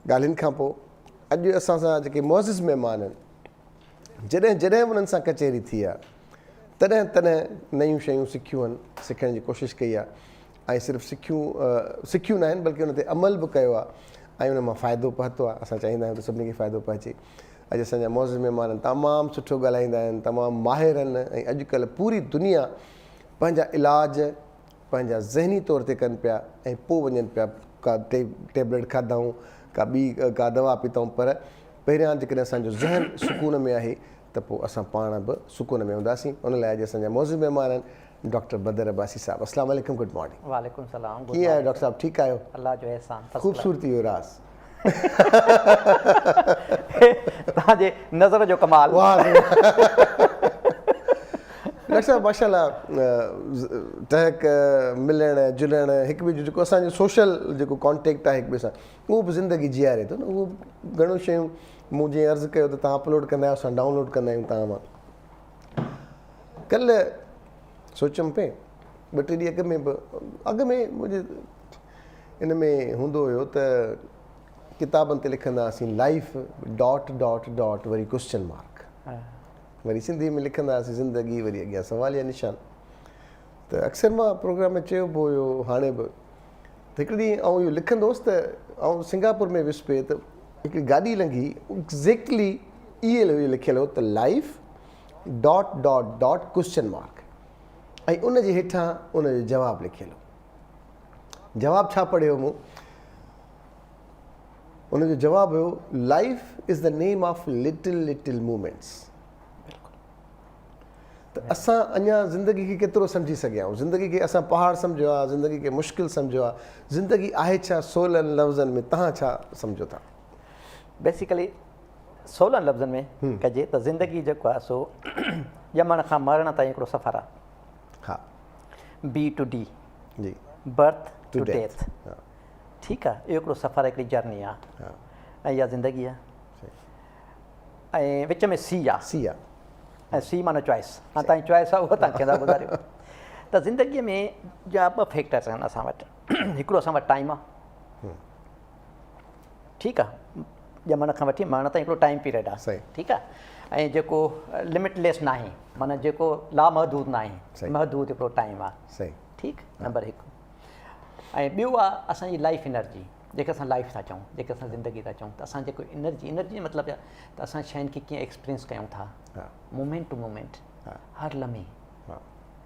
ڳالهين کان پوء اڄ اسان سان جيڪي معزز مهمان آهن جڏهن جڏهن به انهن سان ڪچهري ٿي آهي تڏهن تڏهن نيون شيون سکيون آهن سکڻ جي ڪوشش ڪئي آهي ۽ صرف سکيون سکيون ناهن بلڪه ان تي عمل به ڪيو آهي ۽ ان مان فائدو پهتو آهي اسان چاهيندا آهيون ته سڀني کي فائدو پهچي اڄ اسان جا معزز مهمان تمام سٺو ڳالهائيندا آهن تمام ماهر آهن ۽ اڄ ڪلهه پوري دنيا پنهنجا علاج پنهنجا ذهني طور تي ڪن پيا ۽ پوء وڃن پيا ڪا ٽيبليٽ کاڌائون ڪا ٻي ڪا دوا پيتائون پر پهريان جيڪڏهن اسان جو ذهن سڪون ۾ آهي ته پوء اسان پاڻ به سڪون ۾ هونداسين ان لاء اڄ اسان جا معزز مهمان آهن ڊاڪٽر بدر عباسي صاحب اسلام عليڪم گڊ مارننگ وعليڪم سلام ڪيئن آهيو ڊاڪٽر صاحب ٺيڪ آهيو الله جو احسان خوبصورتي جو راز. هي توهان جي نظر جو ڪمال. واه سائين ڊاڪٽر صاحب ماشاءالله ٽهڪ ملڻ جلڻ هڪ ٻئي جو جيڪو اسان جو سوشل جيڪو ڪانٽيڪٽ آهي هڪ ٻئي سان اهو به زندگي جياري ٿو نه اهو گهڻو شيون مون جيئن عرض ڪيو ته تهان اپلوڊ ڪندا آهيو اسان ڊائونلوڊ ڪندا آهيون تهان مان ڪلهه سوچيم پئي ٻه ٽي ڏينهن اڳ ۾ به اڳ ۾ منهنجي ان ۾ هوندو هيو ته ڪتابن تي لکندا هئاسين لائيف ڊاٽ ڊاٽ ڊاٽ وري ڪوسچن مارڪ وري سنڌي ۾ لکندا هئاسين زندگي وري اڳيان سواليه نشان ته اڪثر مان پروگرام ۾ چيو به هيو هاڻي به ته هڪڙي ڏينهن آئون اهو لکندو هوس ته آئون سنگاپور ۾ ويس پئي ته هڪڙي گاڏي لنگهي ايگزيڪٽلي اهو هيو لکيل هو ته life dot dot dot question mark ۽ ان جي هيٺان ان جو جواب لکيل هو جواب ڇا پڙهيو مون؟ ان جو جواب هيو life is the name of little little moments ته اسان اڃا زندگي کي ڪيترو سمجهي سگهيا آهيون زندگي کي اسان پهاڙ سمجهيو آهي زندگي کي مشڪل سمجهيو آهي زندگي آهي ڇا سولن لفظن ۾ تهان ڇا سمجهو ٿا بيسيڪلي سولن لفظن ۾ ڪجي ته زندگي جيڪو آهي سو ڄمڻ کان مرڻ تائين هڪڙو سفر آهي ها بي ٽو ڊي جي برٿ ٽو ڊيٿ ٺيڪ آ اهو هڪڙو سفر هڪڙي جرني آ ۽ اها زندگي آ ۽ وچ ۾ سي آ سي آ ۽ سي معنی چوائس هاڻي تائين چوائس آ اهو تان کي گذاريو ته زندگي ۾ جا ٻه فيڪٽرس آهن اسان وٽ هڪڙو اسان وٽ ٽائيم آ ٺيڪ آ ڄمڻ کان وٺي مرڻ تائين هڪڙو ٽائيم پيريڊ آ ٺيڪ آ ۽ جيڪو لمٽ ليس ناهي معنيٰ جيڪو لا محدود ناهي محدود هڪڙو ٽائيم آ ٺيڪ نمبر هڪ ۽ ٻيو آ اسان جي لائيف انرجي جيڪي اسان لائيف ٿا چئون جيڪي اسان زندگي ٿا چئون ته اسان جيڪو انرجي انرجي جو مطلب ته اسان شين کي ڪيئن ايڪسپرينس ڪيون ٿا مومينٽ ٽو مومينٽ هر لمحي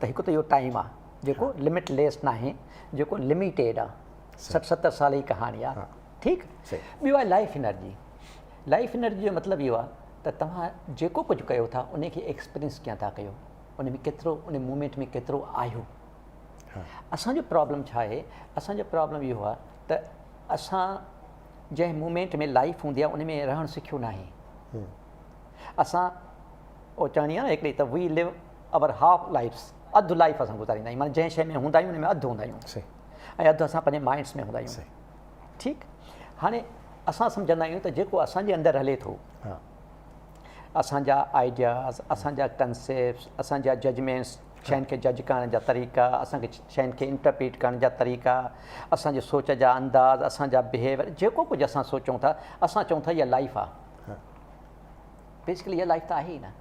ته هڪ ته اهو ٽائيم آ جيڪو لمٽ ليس ناهي جيڪو لميٽيڊ آ سٺ ستر سال جي ڪهاڻي آ ٺيڪ ٻيو آ لائيف انرجي لائيف انرجي جو مطلب اهو آ ته توهان جيڪو ڪجهه ڪيو ٿا ان کي ايڪسپيرينس ڪيئن ٿا ڪيو ان ۾ ڪيترو ان مومينٽ ۾ ڪيترو آهيو اسان جو پرابلم ڇا آهي اسان جو پرابلم اهو آ ته اسان جنهن مومينٽ ۾ لائيف هوندي آ ان ۾ رهڻ سکيو ناهي اسان او چوڻي آهي نه هڪڙي ته we live our half lives اڌ لائيف اسان گذاريندا آهيون معنيٰ جنهن شيء ۾ هوندا آهيون ان ۾ اڌ هوندا آهيون ۽ اڌ اسان پنهنجي مائنڊس ۾ هوندا آهيون ٺيڪ هاڻي اسان سمجهندا آهيون ته جيڪو اسان جي اندر هلي ٿو اسان جا آئيڊياز اسان جا ڪنسيپٽس اسان جا ججمينٽس شين کي جج ڪرڻ جا طريقا اسان کي شين کي انٽرپريٽ ڪرڻ جا طريقا اسان جو سوچ جا انداز اسان جا بهيويئر جيڪو ڪجهه اسان سوچون ٿا اسان چون ٿا اها لائيف آهي بيسڪلي اها لائيف ته آهي ئي نه.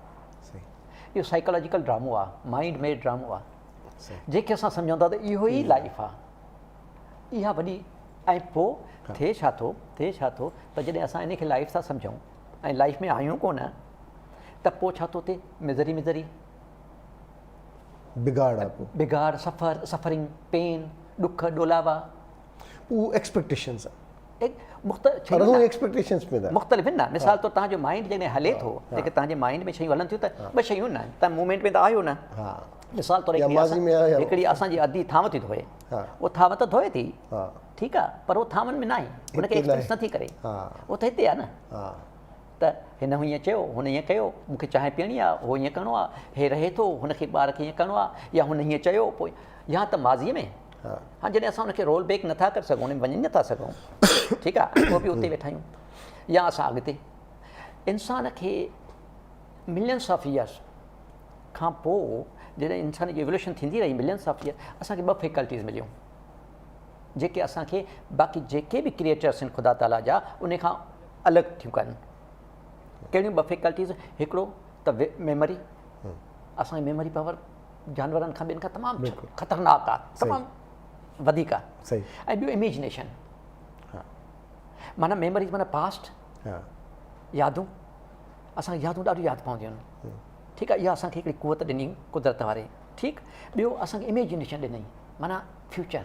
اهو سائيڪالاجيڪل ڊرامو آهي، مائينڊ ميڊ ڊرامو آهي. جنهن کي اسان سمجهون ٿا ته اهو ئي لائيف آهي. اها وڏي ۽ پوء ٿئي ڇا ٿو، ٿئي ڇا ٿو ته جڏهن اسان ان کي لائيف ٿا سمجهون ۽ لائيف ۾ آهيون ڪونه ته پوء ڇا ٿو ٿئي مزري مزري، بگاڙ، سفر، سفرنگ، پين، ڏک، ڏولاوا، اهو ايڪسپيڪٽيشنز آهن. مختلف آهن نه مثال طور تنهنجو مائنڊ جڏهن هلي ٿو جيڪي تنهنجي مائنڊ ۾ شيون هلن ٿيون ته ٻه شيون نه تنهن مومينٽ ۾ ته آهيو نه مثال طور هڪڙي اسان جي ادي ٿانو ٿي ڌوئي اهو ٿانو ته ڌوئي ٿي ٺيڪ آهي پر اهو ٿانون ۾ نه آهي هن کي ايڪسپيرينس نٿي ڪري اهو ته هتي آهي نه ته هن هو ائين چيو هن ائين ڪيو مونکي چانهه پيئڻي آهي هو ائين ڪرڻو آهي هي رهي ٿو هن کي ٻار کي ائين ڪرڻو آهي يا هن ائين چيو پوء يا ته ماضي ۾ ها جڏهن اسان ان کي رول بيڪ نٿا ڪري سگهون ان ۾ وڃي نٿا سگهون ٺيڪ آهي پوء به اتي ويٺا آهيون يا اسان اڳتي انسان کي ملينس آف ايئرس کان پوء جڏهن انسان جي ايوولوشن ٿيندي رهي ملينس آف ايئر اسانکي ٻه فيڪلٽيز مليون جيڪي اسانکي باقي جيڪي به ڪريئيٽرس آهن خدا تعالیٰ جا ان کان الڳ ٿيون ڪن ڪهڙيون ٻه فيڪلٽيز هڪڙو ته ميموري اسانجي ميموري پاور جانورن کان ٻين کان تمام خطرناڪ آ تمام وڌيڪ آ ۽ ٻيو اميجنيشن معنيٰ ميموريز معنيٰ پاسٽ يادون اسان کي يادون ڏاڍيون ياد پونديون آهن ٺيڪ آ اها اسان کي هڪڙي قوت ڏني قدرت واري ٺيڪ ٻيو اسان کي اميجنيشن ڏني معنيٰ فيوچر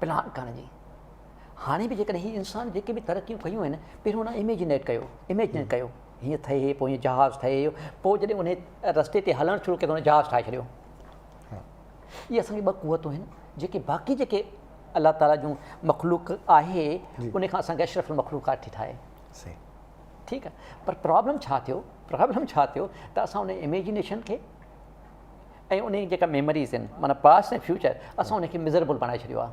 پلان ڪرڻ جي هاڻي به جيڪڏهن هي انسان جيڪي به ترقيون ڪيون آهن پهريون هن اميجنيٽ ڪيو اميجن ڪيو هيئن ٿئي هي، پوء هيئن جهاز ٺهي هيو، پوء جڏهن انهي رستي تي هلڻ شروع ڪيو ته هن جهاز ٺاهي ڇڏيو. اهي اسان جي ٻه قوتون آهن جيڪي باقي جيڪي الله تعالي جون مخلوق آهي انهي کان اسان کي اشرف المخلوقات ٿي ٺاهي. ٺيڪ آهي پر پرابلم ڇا ٿيو پرابلم ڇا ٿيو ته اسان انهي اميجنيشن کي ۽ انهي جيڪا ميموريز آهن معنيٰ پاسٽ ۽ فيوچر اسان انهي کي مزربل بڻائي ڇڏيو آهي.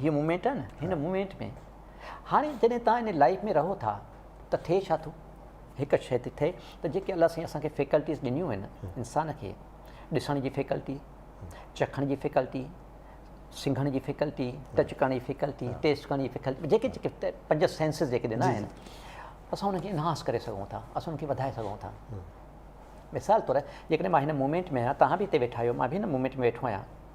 هيء مومينٽ آهي نه هن مومينٽ ۾ هاڻي جڏهن تان ان لائف ۾ رهو ٿا ته ٿئي ڇا ٿو هڪ شيء ٿي ٿئي ته جيڪي الله سائين اسان کي فيڪلٽيز ڏنيون آهن انسان کي ڏسڻ جي فيڪلٽي چکڻ جي فيڪلٽي سنگھڻ جي فيڪلٽي ٽچ ڪرڻ جي فيڪلٽي ٽيسٽ ڪرڻ جي فيڪلٽي جيڪي جيڪي پنج سينسز جيڪي ڏنا آهن اسان ان کي انهانس ڪري سگھون ٿا اسان ان کي وڌائي سگھون ٿا مثال طور جيڪڏهن مان هن مومينٽ ۾ آهيان توهان به هتي ويٺا آهيو مان به هن مومينٽ ۾ ويٺو آهيان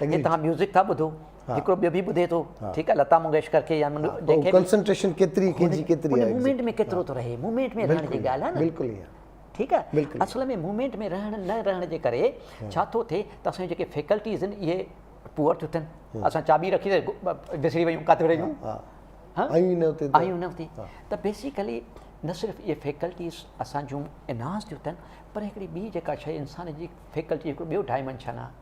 جي توهان ميوزڪ ٿا ٻڌو هڪڙو ٻيو به ٻڌي ٿو ٺيڪ آهي لتا منگيشڪر کي يا جنهن کي به ڪنسنٽريشن ڪيتري ڪنهنجي ڪيتري آهي ان مومينٽ ۾ ڪيترو ٿو رهي مومينٽ ۾ رهڻ جي ڳالهه آهي بلڪل ايئن ٺيڪ آهي اصل ۾ مومينٽ ۾ رهڻ نه رهڻ جي ڪري ڇا ٿو ٿئي ته اسان جي جيڪي فيڪلٽيز آهن اهي پوئر ٿيون ٿين اسان چاٻي رکي وسري ويون ڪاٿي رهيون آيون نه اتي ته بيسيڪلي نه صرف اهي فيڪلٽيز اسان جون انهانس ٿيون ٿين پر هڪڙي ٻي جيڪا شيء انسان جي فيڪلٽي هڪڙو ٻيو ڊائمنشن آهي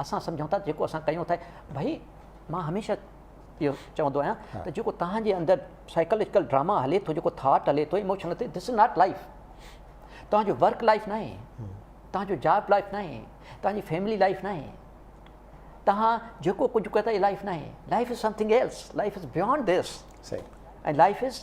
اسان سمجهون ٿا ته جيڪو اسان ڪيون ٿا ڀئي مان هميشه اهو چوندو آهيان ته جيڪو توهان جي اندر سائيڪالاجيڪل ڊراما هلي ٿو جيڪو ٿاٽ هلي ٿو ايموشن ٿي دس از ناٽ لائف توهان جو ورڪ لائف ناهي توهان جو جاب لائف ناهي توهان جي فيملي لائف ناهي توهان جيڪو ڪجهه ڪيو ٿا اهي لائف ناهي life is something else life is beyond this ۽ life is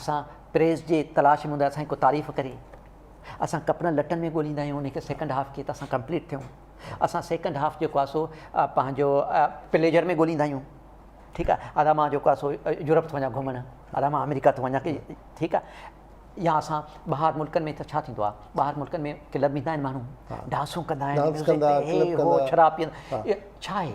اسان پريس جي تلاش ۾ هوندا اسان جي ڪو تعريف ڪري اسان ڪپڙن لٽن ۾ ڳوليندا آهيون انهي کي سيڪنڊ هاف ڪي ته اسان ڪمپليٽ ٿيون اسان سيڪنڊ هاف جيڪو آهي سو پنهنجو پليجر ۾ ڳوليندا آهيون ٺيڪ آهي ادا مان جيڪو آهي سو يورپ ٿو وڃان گهمڻ ادا مان آمريڪا ٿو وڃان ڪي ٺيڪ آهي يا اسان ٻاهر ملڪن ۾ ته ڇا ٿيندو آهي ٻاهر ملڪن ۾ ڪلب ۾ ٿا آهن ماڻهو ڊانسون ڪندا آهن ڊانس ڪندا ڪلب ڪندا شراب پيئندا ڇا آهي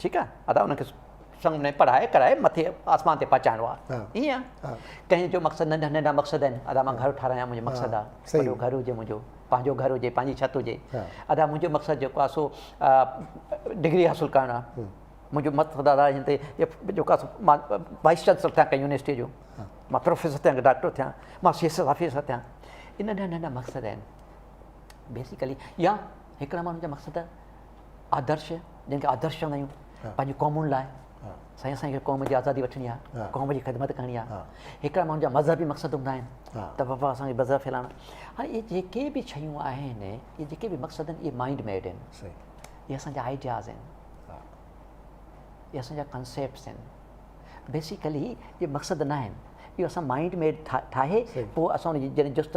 ٺيڪ آ ادا انهن کي سنگ ۾ پڙهائي ڪرائي مٿي آسمان تي پهچائڻو آ ائين آ ڪنهن جو مقصد ننڍا ننڍا مقصد آهن ادا مان گهر ٺاراهيان منهنجو مقصد آ وڏو گهر هجي منهنجو پنهنجو گهر هجي پنهنجي ڇت هجي ادا منهنجو مقصد جيڪو آ سو ڊگري حاصل ڪرڻ آ منهنجو مقصد ادا هن تي جيڪو آ مان وائيس چانسلر ٿيان ڪنهن يونيورسٽي جو مان پروفيسر ٿيان ڊاڪٽر ٿيان مان سي ايس ايس آفيسر ٿيان هي ننڍا ننڍا مقصد آهن بيسيڪلي يا هڪڙا ماڻهن جا مقصد آدرش جنهن کي آدرش چوندا آهيون پنهنجي قومن لاء سائين اسان کي قوم جي آزادي وٺڻي آهي قوم جي خدمت ڪرڻي آهي هڪڙا ماڻهن جا مذهبي مقصد هوندا آهن ته وفا اسان کي مذهب ڦيلائڻ هاڻي اهي جيڪي به شيون آهن اهي جيڪي به مقصد آهن اهي مائنڊ ميڊ آهن اهي اسان جا آئيڊياز آهن اهي اسان جا ڪنسيپٽس آهن بيسيڪلي اهي مقصد نه آهن اهو اسان مائنڊ ميڊ ٺاهي پوء اسان ان جي جڏهن جست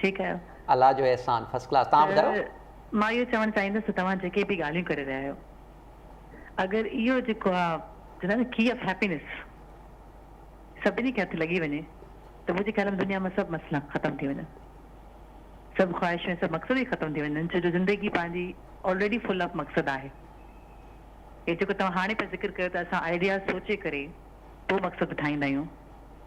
ٺيڪ آهيو. الله جو احسان فرسٽ ڪلاس تهان ٻڌايو. ته مان اهو چوڻ چاهيندس ته توهان جيڪي به ڳالهيون ڪري رهيا آهيو اگر اهو جيڪو آ چوندا آهن نه ڪي آف هيپينس سڀني کي هٿ لڳي وڃي ته منهنجي خيال ۾ دنيا مان سڀ مسئلا ختم ٿي وڃن سڀ خواهشون ۽ سڀ مقصد ئي ختم ٿي وڃن ڇو جو زندگي پنهنجي آلريڊي فل آف مقصد آهي هي جيڪو توهان هاڻي پيا ذڪر ڪيو ته اسان آئيڊياز سوچي ڪري پوء مقصد ٺاهيندا آهيون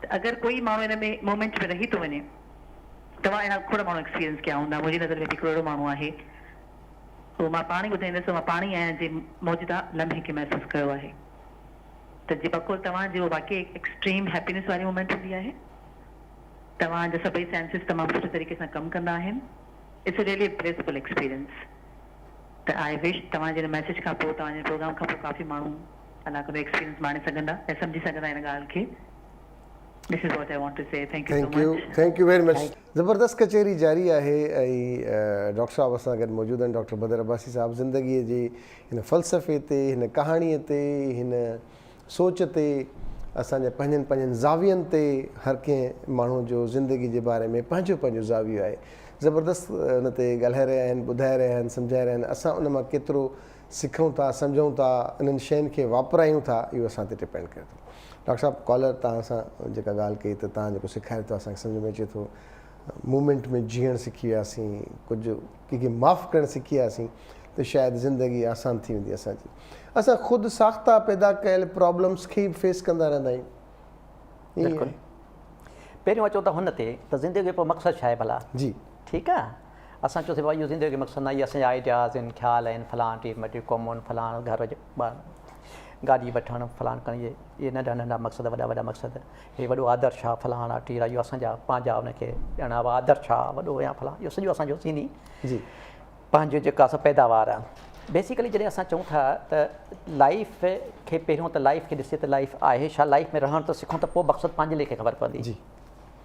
ته اگر ڪوئي ماڻهو ان ۾ مومينٽ ۾ رهي ٿو وڃي توهان اهڙا کوڙ ماڻهو ايڪسپيرينس ڪيا هوندا منهنجي نظر ۾ به هڪڙو اهڙو ماڻهو آهي اهو مان پاڻ ئي ٻڌائيندس مان پاڻ ئي آهيان جي موجوده لمحي کي محسوس ڪيو آهي ته جي بقول توهان جي اهو واقعي ايڪسٽريم هيپينس واري مومينٽ هوندي آهي توهان جا سڀئي سينسز تمام سٺي طريقي سان ڪم ڪندا آهن اٽس ريلي بليسفل ايڪسپيرينس ته آء وش توهان جي ان ميسيج کان پوء توهان جي پروگرام کان پوء ڪافي ماڻهو ادا ڪندي ايڪسپيرينس ماڻي سگهندا ۽ سمجهي سگهندا ان ڳالهه کي This is what I want to say Thank you so much Thank you very much زبردست ڪچهري جاري آهي ۽ ڊاڪٽر صاحب اسان گڏ موجود آهن ڊاڪٽر بدر عباسي صاحب زندگي جي هن فلسفي تي هن ڪهاڻي تي هن سوچ تي اسان جا پنهنجن پنهنجن زاوين تي هر ڪنهن ماڻهو جو زندگي جي باري ۾ پنهنجو پنهنجو زاويو آهي زبردست ان تي ڳالهائي رهيا آهن ٻڌائي رهيا آهن سمجهائي رهيا آهن اسان ان مان ڪيترو سکون ٿا سمجهون ٿا انهن شين کي واپرايون ٿا اهو اسان تي ڊپينڊ ڪري ٿو ڊاڪٽر صاحب ڪالر توهان سان جيڪا ڳالهه ڪئي ته توهان جيڪو سيکاري ٿو اسان کي سمجهه ۾ اچي ٿو مومينٽ ۾ جيئڻ سکي وياسين ڪجهه ڪنهن کي معاف ڪرڻ سکي وياسين ته شايد زندگي آسان ٿي ويندي اسان جي اسان خود ساخته پيدا ڪيل پرابلمس کي فيس ڪندا رهندا آهيون بلڪل پهريون اچو ته هن تي ته زندگي جو مقصد ڇا آهي ڀلا جي ٺيڪ آهي اسان چيو سي بابا اهو زندگي جو مقصد ناهي اهي اسان جا آئيڊياز آهن خيال آهن فلان ٽيم ٽيم قومون فلان گهر جو ٻار گاڏي وٺڻ فلان ڪرڻ اهي اهي ننڍا ننڍا مقصد وڏا وڏا مقصد اهي وڏو آدرش آهي فلان آهي ٽير آهي اهو اسان جا پنهنجا ان کي ڄاڻا هوا آدرش آهي وڏو يا فلان اهو سڄو اسان جو سيني جي پنهنجو جيڪا اسان پيداوار آهي بيسيڪلي جڏهن اسان چون ٿا ته لائف کي پهريون ته لائف کي ڏسي ته لائف آهي ڇا لائف ۾ رهڻ ته سکون ته پوء مقصد پنهنجي ليکي خبر پوندي جي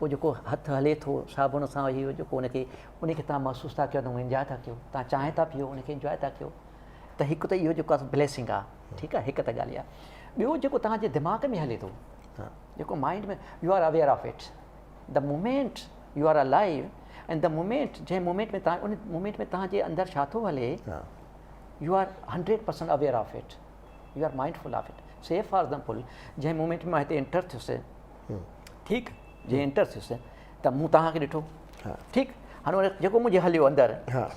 هو جيڪو هٿ هلي ٿو صابڻ سان اهي هو جيڪو ان کي ان کي تان محسوس ٿا ڪيو ته هو انجوائي ٿا ڪيو تان چانهه ٿا پيو ان کي انجوائي ٿا ڪيو ته هڪ ته اهو جيڪو بليسنگ آ ٺيڪ آ هڪ ته ڳالهه اها ٻيو جيڪو تان جي دماغ ۾ هلي ٿو جيڪو mind ۾ you are aware of it ته moment you are alive in ته مومينٽ جنهن مومينٽ ۾ تان ان مومينٽ ۾ تان جي اندر ڇا ٿو هلي you are hundred percent aware of it you are mind full of it say for example جنهن مومينٽ مان هتي انٽر ٿيس ٺيڪ جي انٽر ٿيس ته مون توهان کي ڏٺو ٺيڪ هاڻي جيڪو منهنجي هليو اندر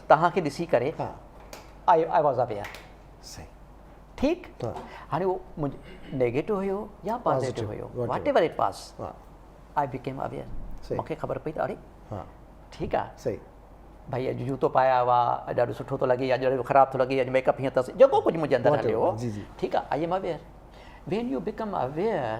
توهان کي ڏسي ڪري آواز آ پيا ٺيڪ هاڻي اهو منهنجو نيگيٽو هيو يا پازيٽو هيو whatever it was I became aware مونکي خبر پئي ته اڙي ٺيڪ آ صحيح ڀائي اڄ جوتو پايا هئا اڄ ڏاڍو سٺو ٿو لڳي اڄ ڏاڍو خراب ٿو لڳي اڄ ميڪ اپ هيئن اٿس جيڪو ڪجهه منهنجي اندر هليو ٺيڪ آ I am aware when you become aware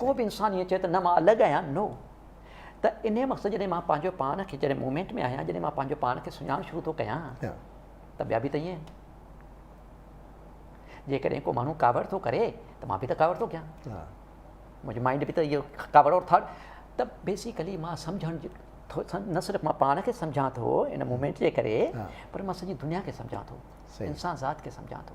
ڪو به انسان ائين چئي ته نه مان الڳ آهيان، نو ته انهيء مقصد جڏهن مان پنهنجو پاڻ کي جڏهن مومينٽ ۾ آهيان جڏهن مان پنهنجو پاڻ کي سڃاڻڻ شروع ٿو ڪيان ته ٻيا به ته ائين آهن. جيڪڏهن ڪو ماڻهو ڪاوڙ ٿو ڪري ته مان به ته ڪاوڙ ٿو ڪيان. منهنجو مائنڊ به ته اهو ڪاوڙ اور ٿاٽ ته بيسيڪلي مان سمجهڻ نه صرف مان پاڻ کي سمجهان ٿو ان مومينٽ جي ڪري پر مان سڄي دنيا کي سمجهان ٿو انسان ذات کي سمجهان ٿو.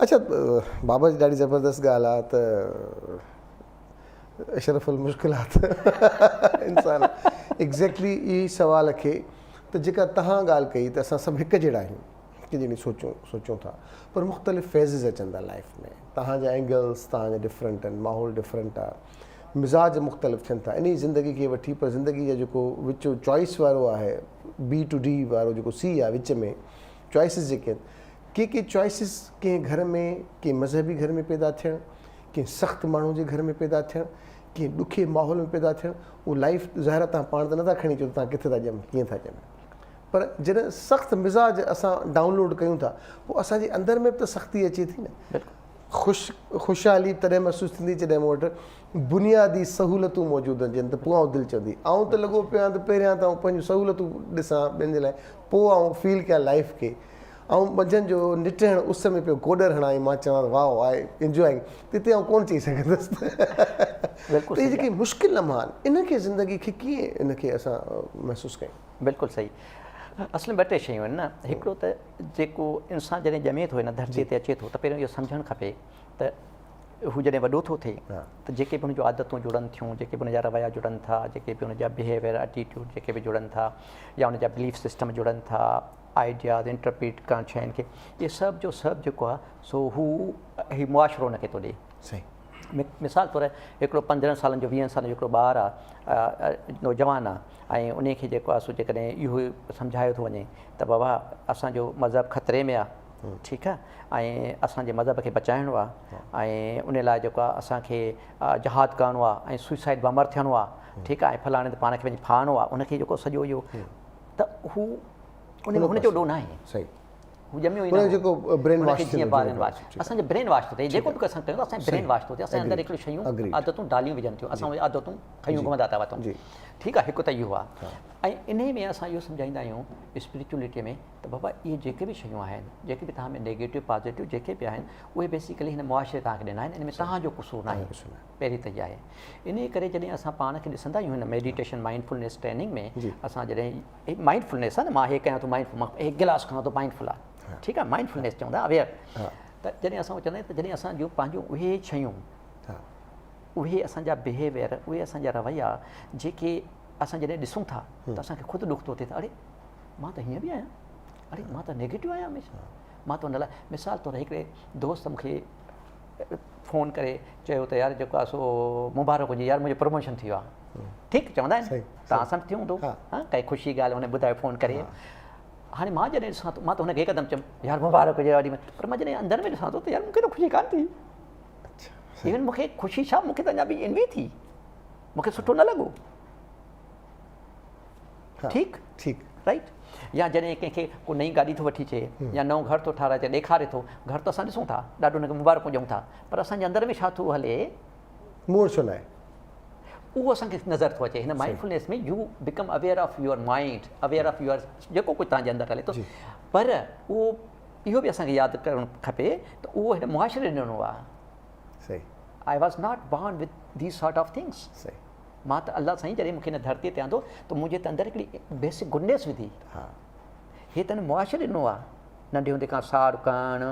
اڇا بابا جي ڏاڍي زبردست ڳالهه آ ته اشرف المشڪلات انسان ايگزيڪٽلي اي سوال کي ته جيڪا تهان ڳالهه ڪئي ته اسان سڀ هڪ جهڙا آهيون هڪ جهڙي سوچون سوچون ٿا پر مختلف فيزز اچن ٿا لائف ۾ تهان جا اينگلز تهان جا ڊفرنٽ آهن ماحول ڊفرنٽ آ مزاج مختلف ٿين ٿا انهي زندگي کي وٺي پر زندگي جا جيڪو وچ چوائس وارو آهي بي ٽو ڊي وارو جيڪو سي آ وچ ۾ چوائسز جيڪي ڪي ڪي چوائسز ڪنهن گهر ۾ ڪنهن مذهبي گهر ۾ پيدا ٿيڻ ڪنهن سخت ماڻهو جي گهر ۾ پيدا ٿيڻ ڪنهن ڏکي ماحول ۾ پيدا ٿيڻ اهو لائف ظاهر آهي تان پاڻ ته نٿا کڻي اچو ته تان ڪٿي ٿا ڄمو ڪيئن ٿا ڄمو پر جڏهن سخت مزاج اسان ڊائونلوڊ ڪيون ٿا پوء اسان جي اندر ۾ به ته سختي اچي ٿي نه خوش خوشحالي تڏهن محسوس ٿيندي جڏهن مون وٽ بنيادي سهولتون موجود هجن ته پوء آئون دل چوندي آئون ته لڳو پيو آهيان ته پهريان ته آئون پنهنجون سهولتون ڏسان ٻين جي لاء پوء آئون فيل ڪيان لائف کي آئون منجهند جو نٽهڻ اس ۾ پيو گوڏر هڻان ۽ مان چوان ته واء آء انجوائنگ ته اتي آئون ڪونه چئي سگهندس ته بلڪل اهي جيڪي مشڪل لمحا آهن انهن کي زندگي کي ڪيئن ان کي اسان محسوس ڪيون. بلڪل صحيح اصل ۾ ٻه ٽي شيون آهن نه هڪڙو ته جيڪو انسان جڏهن ڄمي ٿو هن ڌرتي تي اچي ٿو ته پهريون اهو سمجهڻ کپي ته هو جڏهن وڏو ٿو ٿئي ته جيڪي به هن جون عادتون جڙن ٿيون جيڪي به هن جا رويا جڙن ٿا جيڪي به هن جا بهيويئر ائٽيٽيوڊ جيڪي به جڙن ٿا يا هن جا بليف سسٽم جڙن ٿا آئيڊياز انٽرپريٽ ڪرڻ شين کي اهي سڀ جو سڀ جيڪو آهي سو هو هي معاشرو ان کي ٿو ڏي صحيح مثال طور هڪڙو پندرهن سالن جو ويهن سالن جو هڪڙو ٻار آهي نوجوان آهي ۽ ان کي جيڪو آهي سو جيڪڏهن اهو سمجهايو ٿو وڃي ته بابا اسانجو مذهب خطري ۾ آهي ٺيڪ آهي ۽ اسانجي مذهب کي بچائڻو آهي ۽ ان لاء جيڪو آهي اسانکي جهاد ڪرڻو آهي ۽ سوئسائيڊ بامر ٿيڻو آهي ٺيڪ آهي ۽ فلاڻي تي پاڻ کي وڃي ڦاهڻو آهي ان کي جيڪو سڄو اهو ته هو ان هن جو ڏوهه ناهي. صحيح. هو ڄميو ئي نه. هو جيڪو برين واش ٿيو. جيئن برين واش. اسان جو برين واش ٿو ٿئي. جيڪو به اسان ڪيون ٿا اسان برين واش ٿو ٿئي. اسان اندر هڪڙيون شيون عادتون ڊاليون وجهن ٿيون. اسان اهي عادتون کنيون گهمندا ٿا وتون. ٺيڪ آهي هڪ ته اهو آهي. ۽ انهي ۾ اسان اهو سمجهائيندا آهيون اسپريچوئلٽي ۾ ته بابا اهي جيڪي به شيون آهن جيڪي به توهان ۾ نيگيٽو پازيٽو جيڪي به آهن اهي بيسيڪلي هن معاشري توهان کي ڏنا آهن ان ۾ توهان جو قصور ناهي. پهرين ته اها آهي. انهيء ڪري جڏهن اسان پاڻ کي ڏسندا آهيون هن ميڊيٽيشن مائنڊ فلنيس ٽريننگ ۾ اسان جڏهن مائنڊ فلنيس آهي نه مان هي ڪيان ٿو مائنڊ فلنيس مان هي گلاس کڻان ٿو مائنڊ فل آهي ٺيڪ آهي مائنڊ فلنيس چوندا اويئر ته جڏهن اسان چوندا آهيون ته جڏهن اسان جون پنهنجون اهي شيون اهي اسان جا بهيويئر اهي اسان جا رويا جيڪي اسان جڏهن ڏسون ٿا ته اسان کي خود ڏک ٿو ٿئي ته اڙي مان ته هيئن به آهيان اڙي مان ته نيگيٽو آهيان هميشه مان ته ان لاء مثال طور هڪڙي دوست مون کي فون ڪري چيو ته يار جيڪو آهي سو مبارڪ هجي يار منهنجو پروموشن ٿي ويو آهي ٺيڪ چوندا آهن توهان سان به ٿيو هوندو ڪائي خوشي ڳالهه هن ٻڌايو فون ڪري هاڻي مان جڏهن ڏسان ٿو مان ته هن کي هڪدم چيم يار مبارڪ هجي وڏي پر مان جڏهن اندر ۾ ڏسان ٿو ته يار مونکي ته خوشي ڪانه ٿي ايون مونکي خوشي ڇا مونکي ته اڃا به انوي ٿي مونکي سٺو نه لڳو ٺيڪ ٺيڪ رائيٽ يا جڏهن ڪنهن کي ڪو نئين گاڏي ٿو وٺي اچي يا نئون گهر ٿو ٺاهرائي اچي ڏيکاري ٿو گهر ته اسان ڏسون ٿا ڏاڍو هن کي مبارڪون ڏيون ٿا پر اسان جي اندر ۾ ڇا ٿو هلي مور ڇو نه آهي اهو اسان کي نظر ٿو اچي هن mindfulness ۾ you become aware of your mind aware of your جيڪو ڪجهه تنهنجي اندر هلي ٿو پر اهو اهو به اسان کي ياد ڪرڻ کپي ته اهو هن معاشري ڏنو آهي I was not born with these sort of things صحيح مان ته الله سائين جڏهن مون کي هن ڌرتيء تي آندو ته منهنجي ته اندر هڪڙي بيسڪ گڊنيس وڌي. هي ته هن معاشري ڏنو آ. ننڍي هوندي کان ساڙ ڪرڻ،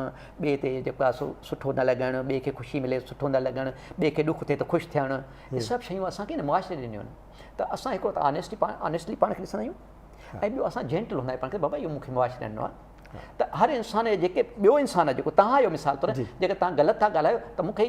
ٻئي تي جيڪو آ سو سٺو نه لڳڻ، ٻئي کي خوشي ملي ته سٺو نه لڳڻ، ٻئي کي ڏک ٿئي ته خوش ٿيڻ، هي سڀ شيون اسان کي هن معاشري ڏنيون آهن. ته اسان هڪڙو ته آنيسٽي پاڻ آنيسٽلي پاڻ کي ڏسندا آهيون ۽ ٻيو اسان جينٽل هوندا آهيون پاڻ کي بابا اهو مون کي معاشري ڏنو آ. ته هر انسان جيڪي ٻيو انسان آ جيڪو توهان آهيو مثال طور جيڪي توهان غلط ٿا ڳالهايو ته مون کي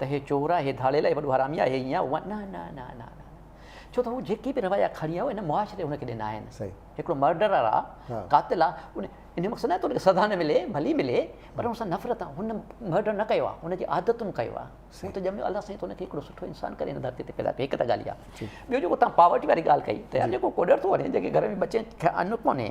ته هي چور آهي، هي ڌاڙيل آهي، هي وڏو حرامي آهي، هي ايئن آهي، نه نه نه نه نه ڇو ته هو جيڪي به رويا کڻي آيو هن معاشري هن کي ڏنا آهن، هڪڙو مرڊرر آ، قاتل آ، ان جو مقصد ناهي ته هن کي سزا نه ملي، ڀلي ملي پر هن سان نفرت آ، هن مرڊر نه ڪيو آ، هن جي عادتن ڪيو آ، هو ته ڄميو الله سائين ته هن کي هڪڙو سٺو انسان ڪري هن ڌرتي تي پيدا ڪيو هڪ ته ڳالهه اها، ٻيو جيڪو توهان پاورٽي واري ڳالهه ڪئي ته يار جيڪو ڪوڏر ٿو وڃي جنهن کي گهر ۾ ٻچي کي ان ڪونهي،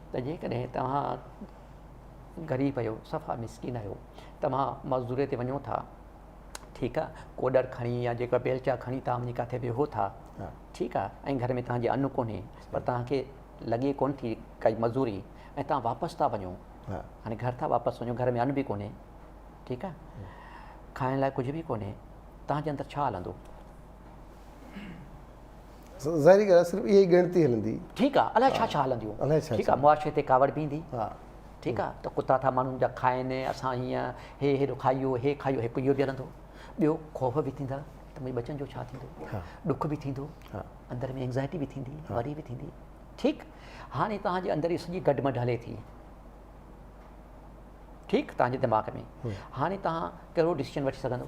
ته جيڪڏهن توهان غريب آهيو، صفا مسڪين آهيو، توهان مزدوريء تي وڃو ٿا، ٺيڪ آهي، ڪوڏر کڻي يا جيڪا بيلچا کڻي توهان وڃي ڪاٿي ويهو ٿا، ٺيڪ آهي، ۽ گهر ۾ توهان جي ان ڪونهي، پر توهان کي لڳي ڪونه ٿي ڪائي مزوري، ۽ توهان واپس ٿا وڃو، يعني گهر ٿا واپس وڃو، گهر ۾ ان به ڪونهي، ٺيڪ آهي، کائڻ لاء ڪجهه به ڪونهي، توهان جي اندر ڇا هلندو؟ ظاهري ڳالهه آهي صرف اها ئي ڳڻتي هلندي. ٺيڪ آهي الاء ڇا ڇا هلنديون. الاء ڇا ڇا. معاشري تي ڪاوڙ بيهندي. ها. ٺيڪ آهي ته ڪتا ٿا ماڻهن جا کائن اسان هيئن هي هيڏو کايو هي کايو هڪ اهو به هلندو ٻيو خوف به ٿيندا ته منهنجي ٻچن جو ڇا ٿيندو ڏک به ٿيندو اندر ۾ انگزائٽي به ٿيندي وري به ٿيندي ٺيڪ هاڻي توهان جي اندر سڄي گڏ مڍ هلي ٿي ٺيڪ توهان جي دماغ ۾ هاڻي توهان ڪهڙو ڊسيزن وٺي سگهندو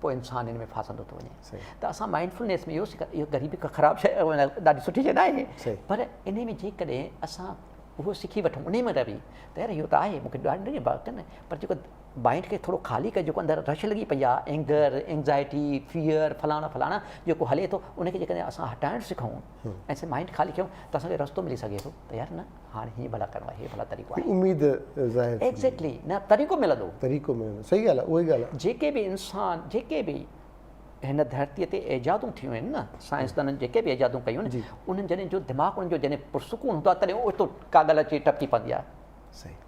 پوء انسان ان ۾ ڦاسندو ٿو وڃي ته اسان مائنڊ فلنيس ۾ اهو سکن اهو غريبي ڪا خراب شيء ڏاڍي سٺي شيء ناهي پر ان ۾ جيڪڏهن اسان اهو سکي وٺون ان ۾ رهي ته يار اهو ته آهي مونکي ڏاڍي ڏاڍي بات ڪن پر جيڪو مائنڊ کي ٿورو خالي ڪري جيڪو اندر رش لڳي پئي آهي اينگر اينگزائٽي فيئر فلاڻا فلاڻا جيڪو هلي ٿو ان کي جيڪڏهن اسان هٽائڻ سکون ۽ مائنڊ خالي ڪيون ته اسانکي رستو ملي سگهي ٿو ته يار نه هاڻ هيئن ڀلا ڪرڻو آهي، هي ڀلا طريقو آهي. اميد ظاهر ٿيندي. ايگزيڪٽلي، نه طريقو ملندو. طريقو ملندو، صحيح ڳالهه آهي، اهو ئي ڳالهه آهي. جيڪي به انسان، جيڪي به هن ڌرتيء تي ايجادون ٿيون آهن نه، سائنسدانن جيڪي به ايجادون ڪيون آهن، انهن جڏهن جو دماغ انهن جو جڏهن پرسڪون هوندو آهي، تڏهن اوچتو ڪا ڳالهه اچي ٽپڪي پوندي آهي. صحيح.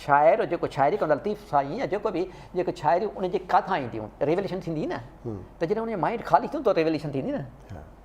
شاعر جيڪو شاعري ڪندو آهي، لطيف سائين يا جيڪو به، جيڪو شاعريون ان جي ڪاٿان اينديون، ريوليشن ٿيندي نه، ته جڏهن ان جو مائنڊ خالي ٿيندو ته ريوليشن ٿيندي نه.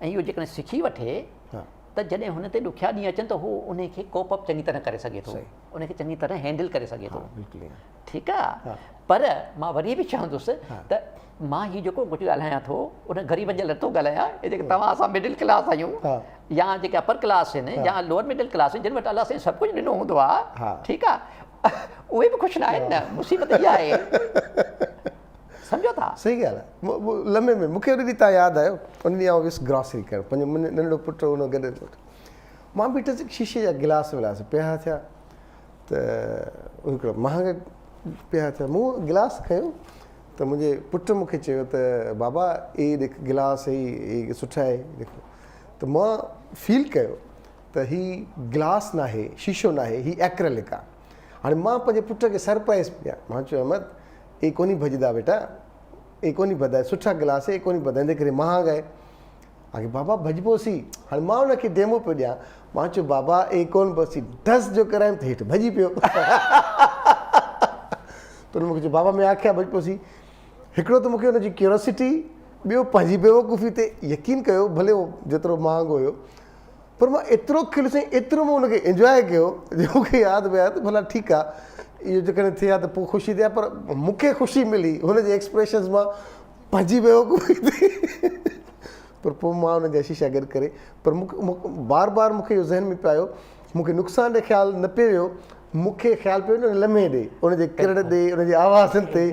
۽ اهو جيڪڏهن سکي وٺي ته جڏهن هن تي ڏکيا ڏينهن اچن ته هو ان کي ڪوپ اپ چڱي طرح ڪري سگهي ٿو ان کي چڱي طرح هينڊل ڪري سگهي ٿو ٺيڪ آهي پر مان وري به چوندس ته مان هي جيڪو ڪجهه ڳالهايان ٿو ان غريبن جي لاء نٿو ڳالهايان هي جيڪي توهان اسان مڊل ڪلاس آهيون يا جيڪي اپر ڪلاس آهن يا لوور مڊل ڪلاس جن وٽ الله سائين سڀ ڪجهه ڏنو هوندو آهي ٺيڪ آهي اهي به خوش نه آهن نه مصيبت اها آهي سمجهو ٿا؟ صحيح ڳالهه آهي. لمحي ۾ مون کي ان ڏينهن تان ياد آيو. ان ڏينهن آئون ويس گراسري ڪرڻ. پنهنجو ننڍڙو پٽ هو ان سان گڏ ويس. مان بيٺس هڪ شيشي جا گلاس ولاس پيا ٿيا ته هڪڙا مهانگا پيا ٿيا. مون گلاس کنيو ته منهنجي پٽ مون کي چيو ته بابا هي ڏيک گلاس هي هي سٺا آهي ڏيکو ته مان فيل ڪيو ته هي گلاس ناهي شيشو ناهي هي ايڪريلڪ آهي. هاڻي مان پنهنجي پٽ کي سرپرائيز پيا مان چيو احمد اي ڪونهي ڀڄدا ٻيٽا، اي ڪونهي ڀڄدا، سٺا گلاس اي ڪونهي ڀڄدا، اندر ڪري مهانگ آهي. آکي بابا ڀڄبو سي. هاڻي مان ان کي ڊيمو پيو ڏيان. مان چيو بابا اي ڪونه ڀڄسي. ڍس جو ڪرايم ته هيٺ ڀڄي پيو. ته هن مون کي چيو بابا مين آکي ها ڀڄبو سي. هڪڙو ته مون کي ان جي ڪيوراسٽي، ٻيو پنهنجي بيوقوفي تي يقين ڪيو ڀلي اهو جيترو مهانگو هيو. پر مان ايترو کليس ۽ ايترو مون ان کي انجواء ڪيو جو مون کي ياد به آهي ته ڀلا ٺيڪ آهي اهو جيڪڏهن ٿئي ها ته پوء خوشي ٿئي ها پر مون کي خوشي ملي هن جي ايڪسپريشنز مان پنهنجي بيوقوفي ٿي پر پوء مان انهن جا شيشا گڏ ڪري پر بار بار مون کي اهو ذهن ۾ پيو آيو مون کي نقصان ڏي خيال نه پيو ويو مون کي خيال پيو ان لمحي ڏي، ان جي ڪرڙ ڏي، ان جي آوازن تي،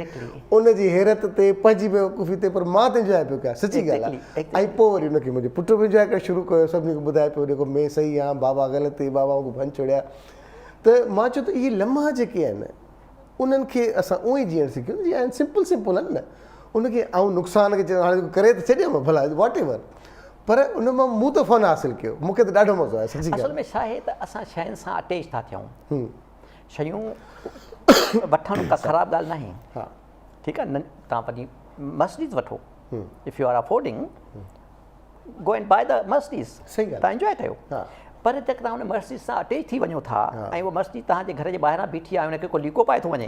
ان جي حيرت تي، پنهنجي بيوقوفي تي پر مان ته انجواء پيو ڪيان سچي ڳالهه آهي ۽ پوء وري ان کي منهنجو پٽ به انجواء ڪرڻ شروع ڪيو سڀني کي ٻڌائي پيو ڏيکو مين صحيح آهيان بابا غلط هئي بابا مون کي ڀڃ ڇوڙيا ته مان چيو ته اهي لمحا جيڪي آهن انهن کي اسان اونئي جيئڻ سکيون جيئن آهن سمپل سمپل آهن نه ان کي آئون نقصان کي چيو هاڻي ڪري ته ڇڏيم ڀلا واٽ ايور پر ان مان مون ته فن حاصل ڪيو مون کي ته ڏاڍو مزو آيو سچي ڳالهه اصل ۾ ڇا آهي ته اسان شين سان اٽيچ ٿا ٿيون شيون وٺڻ ڪا خراب ڳالهه ناهي ٺيڪ آهي تان پنهنجي مسجد وٺو if you are affording go and buy the masjid تان انجوائي ڪيو پر جيڪڏهن توهان ان مسجد سان اٽيچ ٿي وڃو ٿا ۽ اهو مسجد توهان جي گهر جي ٻاهران بيٺي آهي ان کي ڪو ليڪو پائي ٿو وڃي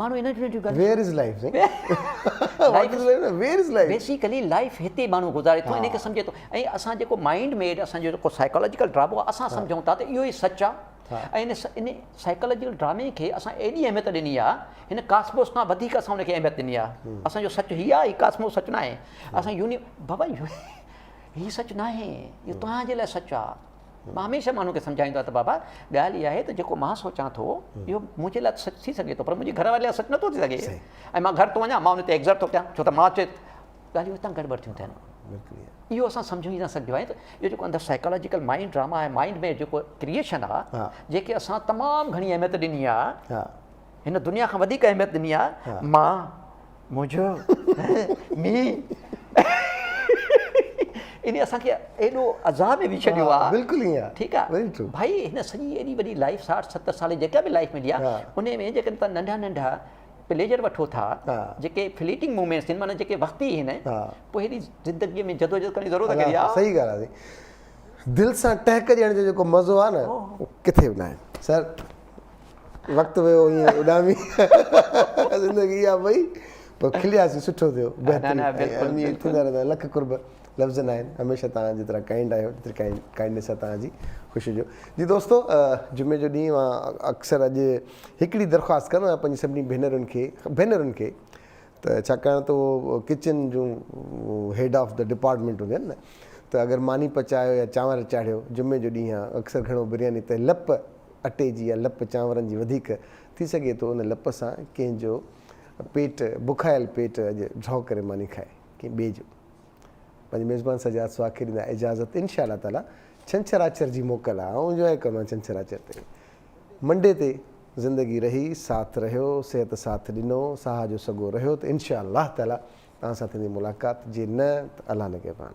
ماڻهو انهن ٽنهن جون ڳالهيون. Where is life سائين. What is life نه Where is life. Basically life هتي ماڻهو گذاري ٿو انهيء کي سمجهي ٿو ۽ اسان جيڪو مائنڊ ميڊ اسان جو جيڪو سائيڪالاجيڪل ڊرامو آهي اسان سمجهون ٿا ته اهو ئي سچ آهي ۽ ان ان سائيڪالاجيڪل ڊرامي کي اسان ايڏي اهميت ڏني آهي هن ڪاسموس کان وڌيڪ اسان ان کي اهميت ڏني آهي اسان جو سچ هي آهي هي ڪاسموس سچ ناهي اسان يوني بابا هي سچ ناهي اهو توهان جي لاء سچ آهي. مان هميشه ماڻهن کي سمجهائيندو آهيان ته بابا ڳالهه اها آهي ته جيڪو مان سوچان ٿو اهو منهنجي لاء سچ ٿي سگهي ٿو پر منهنجي گهر واري لاء سچ نٿو ٿي سگهي ۽ مان گهر ٿو وڃان مان ان تي ايگزرٽ ٿو ڪيان ڇو ته مان چيت ڳالهيون هتان گڙبڙ ٿيون ٿين اهو اسان سمجهو ئي نه سگهجو آهي ته اهو جيڪو اندر سائيڪالاجيڪل مائنڊ ڊراما آهي مائنڊ ۾ جيڪو ڪريشن آهي جيڪي اسان تمام گهڻي اهميت ڏني آهي هن دنيا کان وڌيڪ اهميت ڏني آ مان منهنجو مينهن ان اسان کي ايڏو عذاب ۾ وجهي ڇڏيو آ بلڪل ائين آ ٺيڪ آ ڀائي هن سڄي ايڏي وڏي لائيف 60 70 سال جيڪا به لائيف ملي آ ان ۾ جيڪڏهن تان ننڍا ننڍا پليجر وٺو ٿا جيڪي فليٽنگ مومينٽس ٿين معنی جيڪي وقتي هين پوء هيڏي زندگي ۾ جدوجهد ڪرڻ جي ضرورت ڪهڙي آ صحيح ڳالهه آ دل سان ٽهڪ ڏيڻ جو جيڪو مزو آ نه ڪٿي به ناهي سر وقت ويو ائين اڏامي زندگي اها وئي پر کلياسين سٺو ٿيو بهترين اميد ٿيندا رهندا لک قرب لفظ نه آهن هميشه توهان جيترا ڪائنڊ آهيو جيتري ڪائنڊ ڪائنڊنس آهي توهان جي خوشي جو جي دوستو جمعي جو ڏينهن مان اڪثر اڄ هڪڙي درخواست ڪندو آهيان پنهنجي سڀني ڀينرن کي ڀينرن کي ته ڇاڪاڻ ته اهو ڪچن جون هيڊ آف دا ڊپارٽمنٽ هونديون آهن نه ته اگر ماني پچايو يا چانور چاڙهيو جمعي جو ڏينهن اڪثر گهڻو برياني ته لپ اٽي جي يا لپ چانورن جي وڌيڪ ٿي سگهي ٿو ان لپ سان ڪنهن جو پيٽ بکايل پيٽ اڄ جهو ڪري ماني کائي ڪنهن ٻئي جو پنهنجي ميزبان سجاد سوا کي ڏيندا اجازت ان شاء الله تعالي ڇنڇراچر جي موڪل آ آئون انجوائي ڪندو آهيان ڇنڇراچر تي منڊي تي زندگي رهي ساٿ رهيو صحت ساٿ ڏنو ساهه جو سڳو رهيو ته ان شاء الله تعالي توهان سان ٿيندي ملاقات جي نه ته الله نگهبان.